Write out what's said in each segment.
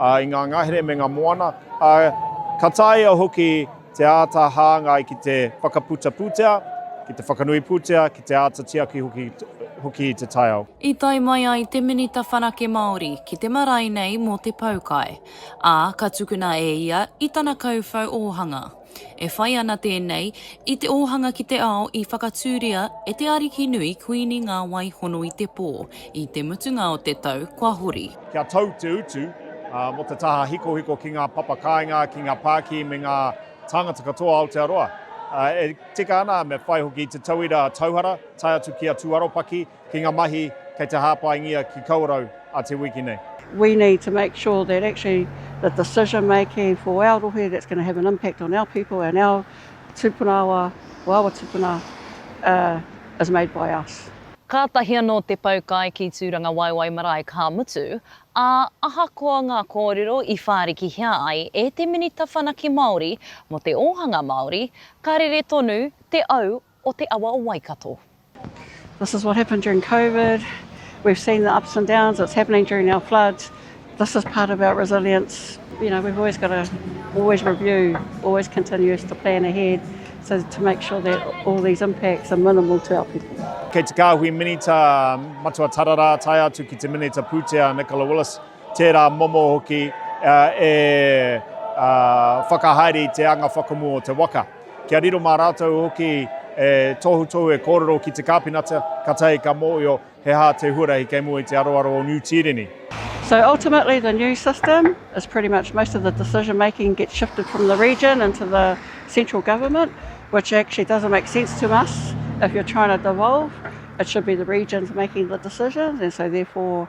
i ngā ngahere me ngā moana, ā, ka taea hoki te āta hāngai ki te whakaputa pūtea, ki te whakanui pūtea, ki te āta tiaki hoki i te taiao. I tae mai ai te Minita Whanake Māori ki te marae nei mō te poukai, ā, ka tukuna e ia i tana kauwhau ōhanga. E whai ana tēnei i te ōhanga ki te ao i whakatūria e te ariki nui Kuini ngā wai hono i te pō, i te mutunga o te tau kua hori. Kia tau te utu mō te taha hikohiko ki ngā papa kāinga, ki ngā pākī me ngā tāngata katoa o Aotearoa. E tika ana me whai hoki i te tauira tauhara, tae atu ki a Tūaropaki, Ki nga mahi kei te hāpaingia ki Kawerau a te wiki nei. We need to make sure that actually the decision making for our rohe that's going to have an impact on our people and our tupuna awa, or awa tupuna, uh, is made by us. Kātahi anō te pau kai ki Tūrangawaewae marae ka mutu, ā, ahakoa ngā kōrero i whārikihia ai e te Minita Whanake Māori mō te ōhanga Māori, ka rere tonu te au o te awa o Waikato. This is what happened during Covid. We've seen the ups and downs, it's happening during our floods. This is part of our resilience. You know, we've always got to always review, always continues to plan ahead so to make sure that all these impacts are minimal to our people. Kei te kāhui minita Matua Tarara tae atu ki te minita pūtea Nicola Willis, tērā momo hoki uh, e uh, whakahaere i te anga whakamu o te waka. Kia riro mā rātou hoki e tohutohu, e kōrero ki te kāpenata, kātahi ka mōhio he aha te huarahi kei mua i te aroaro o Niu Tīreni. So ultimately the new system is pretty much most of the decision making gets shifted from the region into the central government which actually doesn't make sense to us if you're trying to devolve, it should be the regions making the decisions and so therefore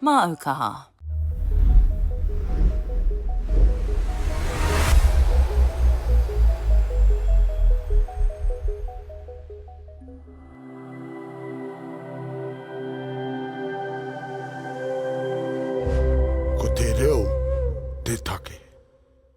Māu kaha. Ko te reo te take.